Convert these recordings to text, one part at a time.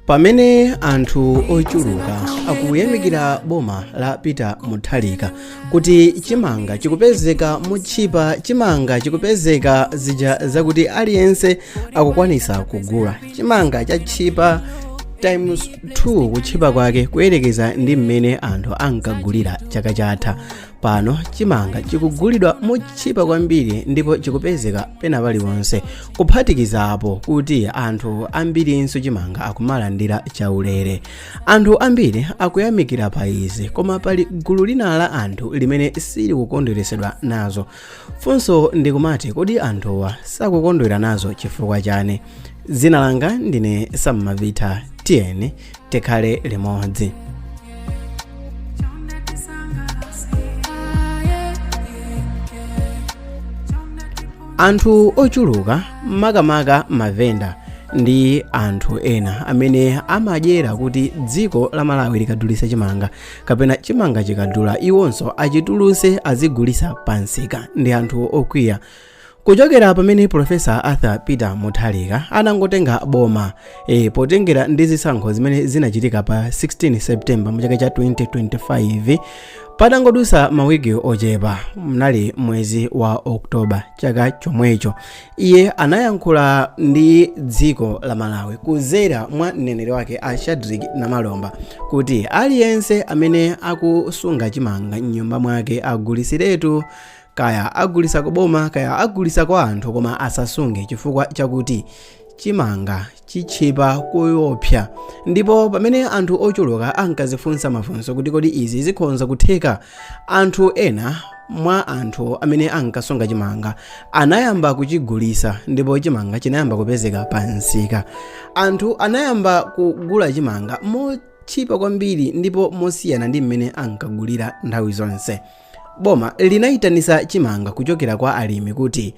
pamene anthu ochuluka akuyamikira boma la peter mutharika kuti chimanga chikupezeka motchipa chimanga chikupezeka zija zakuti aliyense akukwanisa kugula chimanga chatchipa times 2 kutchipa kwake kuyerekeza ndi mmene anthu ankagulira chaka chatha pano chimanga chikugulidwa motchipa kwambiri ndipo chikupezeka pena paliponse kuphatikizapo kuti anthu ambirinso chimanga akumalandira chaulere anthu ambiri akuyamikira pa izi koma pali gulu lina la anthu limene silikukondweresedwa nazo funso ndikumati kodi anthuwa sakukondwera nazo chifukwa chani dzina langa ndine sam mavita tiyeni tikhale limodzi anthu ochuluka makamaka mavenda ndi anthu ena amene amadyera kuti dziko la malawi likadulisa chimanga kapena chimanga chikadula iwonso achituluse azigulisa pansika ndi anthu okwiya kuchokera pamene profesa arthur peter mutharika anangotenga boma potengera ndi zisankho zimene zinachitika pa 16 september mu chaka cha 2025 patangodusa mawiki ochepa mnali mwezi wa oktoba chaka chomwecho iye anayankhula ndi dziko la malawi kuzera mwa mneneri wake a shadric namalomba kuti aliyense amene akusunga chimanga mnyumba mwake agulisiretu kaya agulisa ku boma kaya agulisa kwa anthu koma asasunge chifukwa chakuti chimanga chitchipa kuopsa ndipo pamene anthu ochuluka ankazifunsa mafunso kuti kodi izi zikhonza kutheka anthu ena mwa anthu amene ankasunga chimanga anayamba kuchigulisa ndipo chimanga chinayamba kupezeka pa nsika anthu anayamba kugula chimanga motchipa kwambiri ndipo mosiyana ndi mmene ankagulira nthawi zonse Boma linayitanisa chimanga kuchokera kwa alimi kuti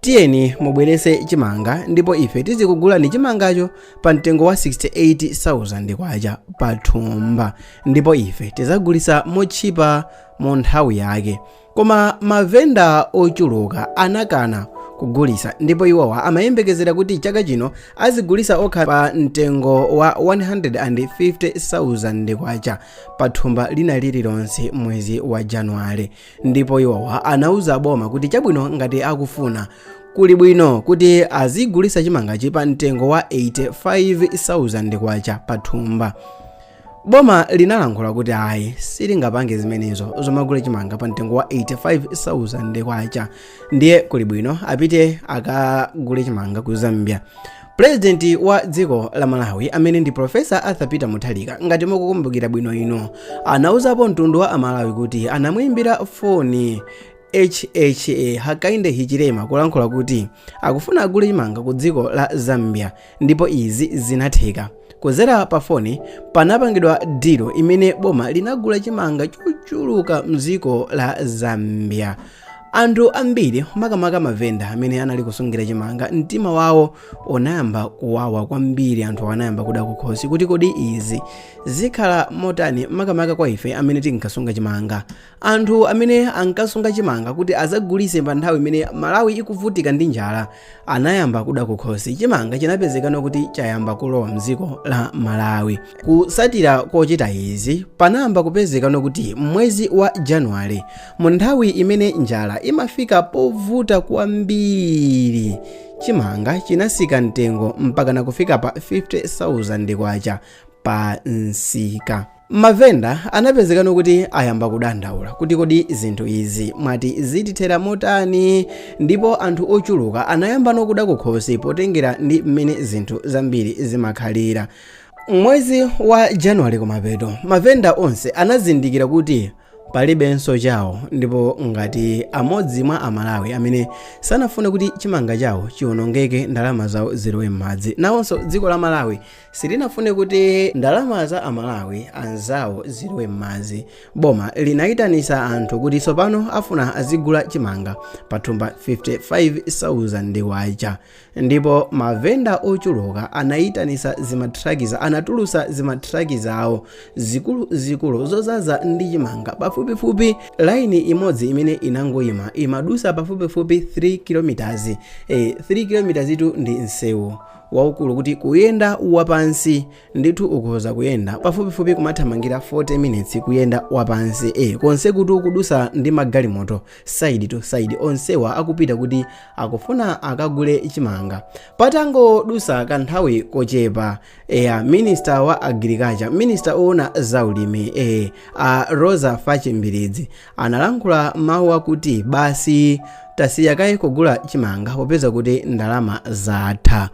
tiyeni mubwerese chimanga ndipo ife tizikugulani chimangacho pa mtengo wa 68,000 kwacha pa thumba ndipo ife tizagulisa motchipa mu nthawi yake koma mavenda ochuluka anakana kugulisa ndipo iwowa amayembekezera kuti chaka chino azigulisa okha pa mtengo wa 150,000 kwacha pa thumba lina lililonse mwezi wa januwale ndipo iwowa anauza boma kuti chabwino ngati akufuna kuli bwino kuti azigulisa chimangachi pa mtengo wa 85,000 kwacha pa thumba boma linalankhula kuti ayi silingapange zimenezo zomagula chimanga pa mtengo wa 85,000 kwacha ndiye kuli bwino apite akagule chimanga ku zambia pulezidenti wa dziko la malawi amene ndi profesa arthur peter mutharika ngati mukukumbukira bwino ino anauzapo mtundu wa amalawi kuti anamuimbira foni hha hakainde hichilema kulankhula kuti akufuna agule chimanga ku dziko la zambia ndipo izi zinatheka kuzera pa foni panapangidwa dilo imene boma linagula chimanga chochuluka mdziko la zambia Anthu ambiri, makamaka mavenda amene anali kusungira chimanga, mtima wawo unayamba kuwawa kwambiri. Anthu anayamba kuda kukhosi kuti kodi izi zikhala motani, makamaka kwa ife amene tinkasunga chimanga. Anthu amene ankasunga chimanga kuti azagulise pa nthawi imene Malawi ikuvutika ndi njala anayamba kuda kukhosi chimanga chinapezekano kuti chayamba kulowa mdziko la malawi kusatira kochita izi panayamba kupezekano kuti mwezi wa januwale mu nthawi imene njala imafika povuta kwambiri chimanga chinasika mtengo mpakana kufika pa 50000 kwacha pa nsika Mavenda anapezekano kuti ayamba kudandaula kuti kodi zinthu izi mwati zitithera motani ndipo anthu ochuluka anayambano kuda kukhosi potengera ndi mmene zinthu zambiri zimakhalira. Mwezi wa Januwale kumapeto, mavenda onse anazindikira kuti palibenso chawo ndipo ngati amodzi mwa Amalawi amene sanafune kuti chimanga chawo chiwonongeke ndalama zawo zilowe mmadzi, nawonso dziko la Malawi Silinafune kuti ndalama za Amalawi anzawo zilowe m'madzi. Boma linaitanisa anthu kuti tsopano afuna azigula chimanga pathumba 55,000 kwacha. Ndipo mavenda ochuluka anaitanisa zimatrakiza, anatulusa zimatrakiza awo zikuluzikulu zozaza ndi chimanga pafupifupi. Laini imodzi imene inangoima imadusa pafupifupi 3 km. E, 3 km tu ndi nsewu waukulu kuti kuyenda wapansi ndithu ukhoza kuyenda pafupifupi kumathamangira 40 minutes kuyenda wapansi e konse kuti ukudusa ndi magalimoto side to side onsewa akupita kuti akufuna akagule chimanga patangodusa kanthawi kochepa eya minister wa agriculture minister oona zaulimi e a roza fatchi mbilizi Analankhula mawu akuti basi tasiya kaye kugula chimanga popeza kuti ndalama zatha.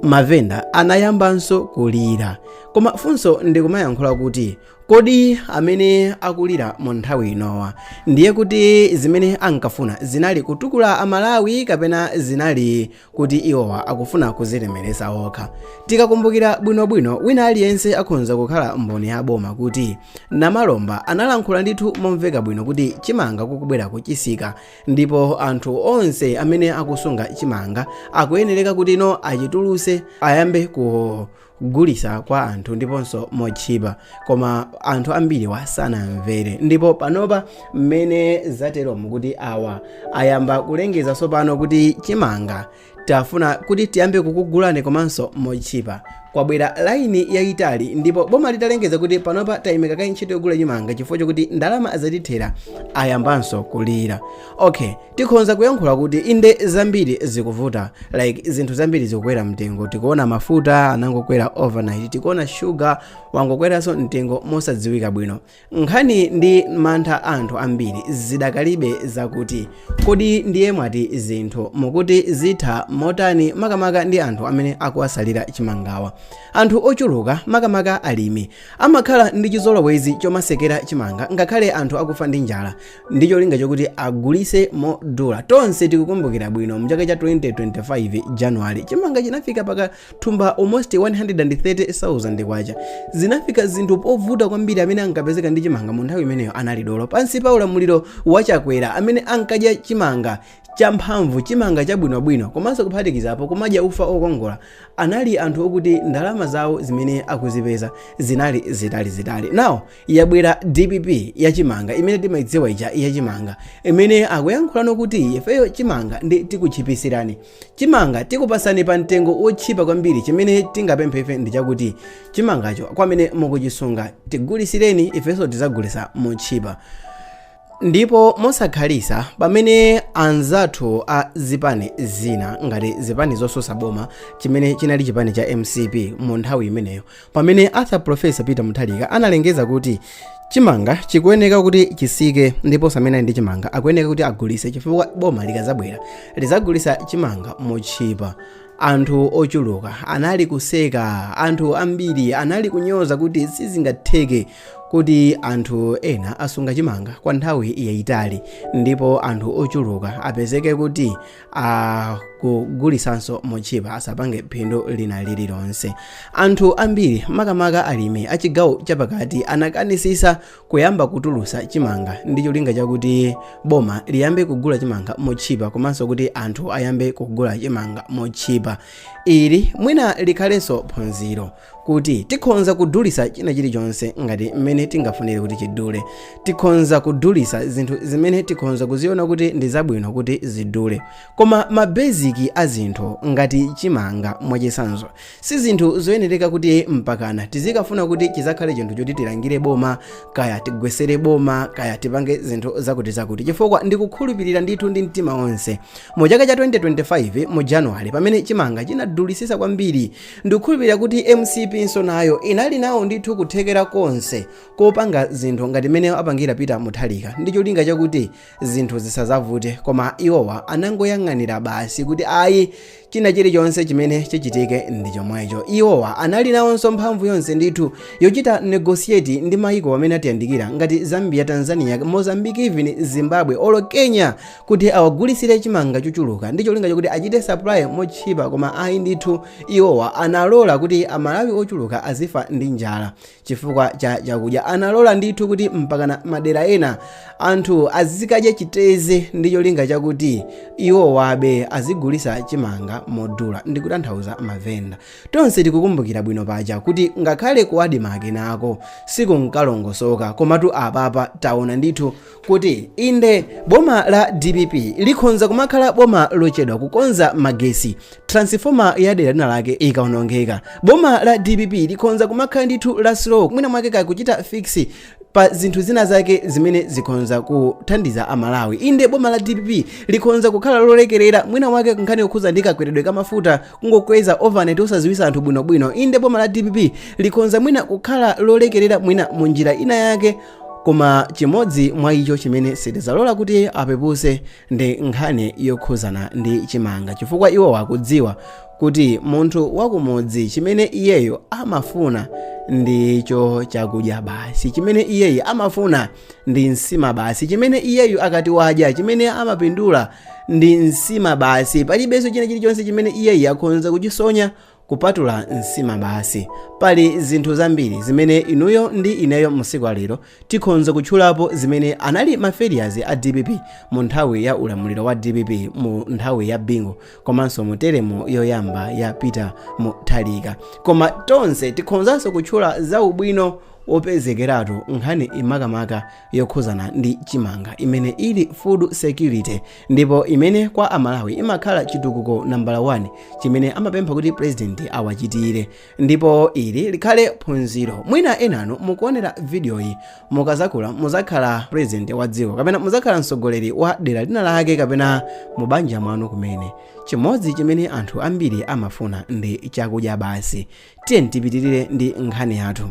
Mavenda anayambanso kulira. Koma funso ndikumayankhula kuti kodi amene akulira mu nthawi inowa ndiye kuti zimene ankafuna zinali kutukula Amalawi kapena zinali kuti iwowa akufuna kuzilemeretsa okha tikakumbukira bwinobwino wina aliyense akhonza kukhala mboni ya boma kuti namalomba analankhula ndithu momveka bwino kuti chimanga kukubwera kutsika ndipo anthu onse amene akusunga chimanga akuyenereka kuti now achituluse ayambe ku kugulisa kwa anthu ndiponso motchipa koma anthu ambiriwa sanamvere ndipo panopa mmene zateromu kuti awa ayamba kulengeza tsopano kuti chimanga tafuna kuti tiyambe kukugulani komanso motchipa kwabwera laini yayitali ndipo boma litalengeza kuti panopa tayimika kaye ntchito yogula chimanga chifukwa chokuti ndalama zatithera ayambanso kulira okay tikhonza kuyankhula kuti inde zambiri zikuvuta like zinthu zambiri zikukwera mtengo tikuona mafuta anangokwera overnight tikuona shuga wangokweranso mtengo mosadziwika bwino nkhani ndi mantha anthu ambiri zidakalipe zakuti kodi ndiye mwati zinthu mukuti zitha motani makamaka ndi anthu amene akuwasalira chimangawa anthu ochuluka makamaka alimi amakhala ndi chizolowezi chomasekera chimanga ngakhale anthu akufa ndi njala ndi cholinga chokuti agulise modula tonse tikukumbukira bwino mchaka cha 2025 january chimanga chinafika paka thumba almost 130,000 kwacha zinafika zinthu povuta kwambiri amene ankapezeka ndi chimanga mu nthawi imeneyo anali dolo pansi pa ulamuliro wa chakwera amene ankadya chimanga champhamvu chimanga chabwinobwino komanso kuphatikizapo kumadya ufa okongola anali anthu okuti ndalama zawo zimene akuzipeza zinali zitalizitali now yabwera dpp ya chimanga imene timayidziwa ija ya chimanga imene akuyankhula kuti ifeyo chimanga ndi tikuchipisirani chimanga tikupasani pa mtengo wotchipa kwambiri chimene tingapemphe ife ndi chakuti chimangacho kwamene mukuchisunga tigulisireni ifenso tizagulisa motchipa ndipo mosakhalitsa pamene anzathu a zipani zina ngati zipani zosusa boma chimene chinali chipani cha mcp mu nthawi imeneyo pamene arthur profesa peter mutharika analengeza kuti chimanga chikuyeneka kuti chisike ndipo onse amene ali ndi chimanga akuyeneka kuti agulise chifukwa boma likazabwera lizagulisa chimanga motchipa anthu ochuluka anali kuseka anthu ambiri anali kunyoza kuti sizingatheke kuti anthu ena asunga chimanga kwa nthawi yayitali ndipo anthu ochuluka apezeke kuti akugulisanso motchipa asapange phindu lina lililonse anthu ambiri makamaka alimi achigawo chapakati anakanisisa kuyamba kutulusa chimanga ndi cholinga chakuti boma liyambe kugula chimanga motchipa komanso kuti anthu ayambe kugula chimanga motchipa ili mwina likhalenso phunziro kuti tikhonza kudulisa china chilichonse ngati mmene tingafunire kuti chidule tikhonza kudulisa zinthu zimene tikhonza kuziona kuti ndi zabwino kuti zidule koma ma basic a zinthu ngati chimanga mwachisanzo si zinthu zoyenereka kuti mpakana tizikafuna kuti chizakhale chinthu choti tilangire boma kaya tigwesere boma kaya tipange zinthu zakuti zakuti chifukwa ndikukhulupirira ndithu ndi mtima onse mu chaka cha 2025 mu januwale pamene chimanga chinadulisisa kwambiri Ndikukhulupirira kuti MCP-nso nayo inali nawo ndithu kuthekera konse kopanga zinthu ngati mmene apangira Peter Mutharika ndi cholinga chakuti zinthu zisazavute koma iwowa anangoyang'anira basi kuti ayi china chilichonse chimene chichitike ndi chomwecho iwowa anali nawonso mphamvu yonse ndithu yochita negotiate ndi mayiko amene atiyandikira ngati Zambia Tanzania Mozambique even Zimbabwe olo Kenya kuti awagulisire chimanga chochuluka ndi cholinga chakuti achite supply motchipa koma ayi ndithu iwowa analola kuti amalawi ochuluka azifa ndi njala chifukwa cha chakudya analola ndithu kuti mpakana madera ena anthu azikadya chiteze ndi cholinga chakuti iwowabe azigulisa chimanga modula ndikutanthauza mavenda tonse tikukumbukira bwino paja kuti ngakhale ku Admarc nako sikunkalongosoka komatu apapa taona ndithu kuti inde boma la dpp likhonza kumakhala boma lochedwa kukonza magesi transifoma ya dera lina lake ikaonongeka boma la dpp likhonza kumakhala ndithu la slow mwina mwake kakuchita fix pa zinthu zina zake zimene zikhonza kuthandiza amalawi inde boma la dpp likhonza kukhala lolekerera mwina mwake nkhani yokhuza ndi kakweredwe ka mafuta kungokweza overnight osaziwisa anthu bwinobwino inde boma la dpp likhonza mwina kukhala lolekerera mwina mu njira ina yake koma chimodzi mwa icho chimene sitizalola kuti apepuse ndi nkhani yokhuzana ndi chimanga chifukwa iwo akudziwa kuti munthu wakumudzi chimene iyeyo amafuna ndicho chakudya basi chimene iyeyo amafuna ndi nsima basi chimene iyeyo akati wadya chimene amapindula ndi nsima basi palibenso china chilichonse chimene iyeyo akhonza kuchisonya kupatula nsima basi pali zinthu zambiri zimene inuyo ndi ineyo mu tsiku la lero tikhonza kutchulapo zimene anali ma failures a dpp mu nthawi ya ulamuliro wa dpp mu nthawi ya bingu komanso mu teremu yoyamba ya peter mutharika koma tonse tikhonzanso kutchula za ubwino wopezekeratu nkhaniyi makamaka yokhuzana ndi chimanga imene ili food security ndipo imene kwa amalawi imakhala chitukuko nambala 1 chimene amapempha kuti purezidenti awachitire ndipo ili likhale phunziro mwina enanu mukuonera vidiyoyi mukazakula muzakhala purezidenti wa dziko kapena muzakhala mtsogoleri wa dera lina lake kapena mu banja mwanu kumene chimodzi chimene anthu ambiri amafuna ndi chakudya basi tiyeni tipitirire ndi nkhani yathu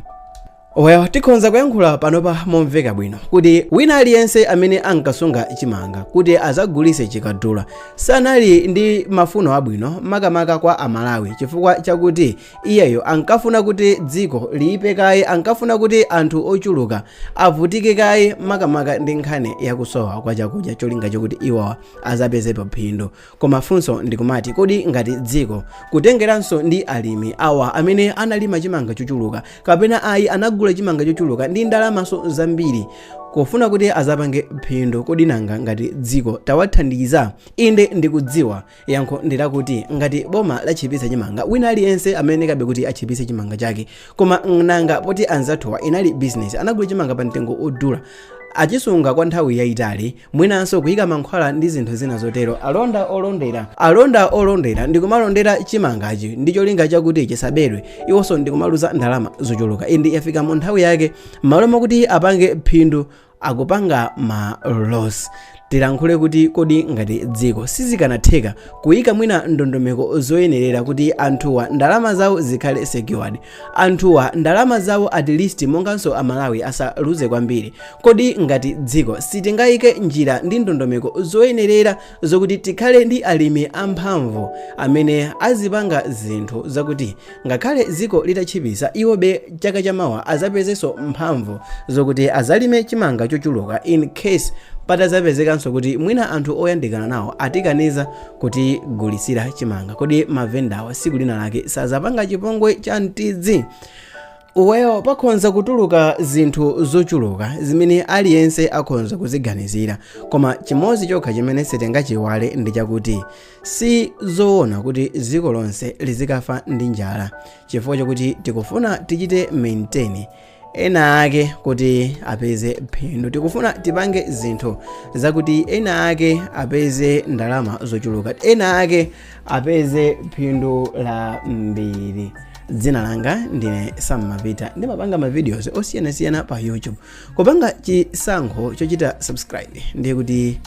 Well, tikhonza kuyankhula panopa momveka bwino kuti wina aliyense amene ankasunga chimanga kuti azagulise chikadula sanali ndi mafuno abwino makamaka kwa amalawi chifukwa chakuti iyeyo ankafuna kuti dziko liyipe kaye ankafuna kuti anthu ochuluka avutike kaye makamaka ndi nkhani yakusowa kwa chakudya cholinga chokuti iwowa azapezepo phindu Koma funso ndikumati kodi ngati dziko, kutengeranso ndi alimi awa amene analima chimanga chochuluka kapena ayi anagula chimanga chochuluka ndi ndalamanso zambiri kufuna kuti azapange phindu kodi nanga ngati dziko tawathandiza? Inde ndikudziwa yankho ndilakuti ngati boma lachipitsa chimanga wina aliyense amayenekabe kuti achipitse chimanga chake koma nanga poti anzathuwa inali business anagula chimanga pa mtengo odula achisunga kwa nthawi yaitali mwinanso kuyika mankhwala ndi zinthu zina zotero alonda olondera alonda olondera ndikumalondera chimangachi ndi cholinga chakuti chisabedwe iwonso ndikumaluza ndalama zochuluka inde yafika mu nthawi yake m'malo mwakuti apange phindu akupanga ma loss tilankhule kuti kodi ngati dziko sizikanatheka kuyika mwina ndondomeko zoyenerera kuti anthuwa ndalama zawo zikhale secured Anthuwa ndalama zawo at least monganso a Malawi asaluze kwambiri. Kodi ngati dziko sitingaike njira ndi ndondomeko zoyenerera zokuti tikhale ndi alimi amphamvu amene azipanga zinthu zakuti ngakhale dziko litatchipisa iwobe chaka chamawa azapezenso mphamvu zokuti azalime chimanga chochuluka in case patazapezekanso kuti mwina anthu oyandikana nawo atikaniza kutigulitsira chimanga kodi mavendawa siku lina lake sazapanga chipongwe cha mtidzi uweyo pakhonza kutuluka zinthu zochuluka zimene aliyense akhonza kuziganizira koma chimodzi chokha chimene sitingachiiwale ndi chakuti si zoona kuti dziko lonse lizikafa ndi njala chifukwa chakuti tikufuna tichite maintain ena ake kuti apeze phindu tikufuna tipange zinthu zakuti ena ake apeze ndalama zochuluka ena ake apeze phindu lambiri dzina langa ndine Sam Mapita ndimapanga mavideos osiyanasiyana pa youtube kupanga chisankho chochita subscribe ndiye kuti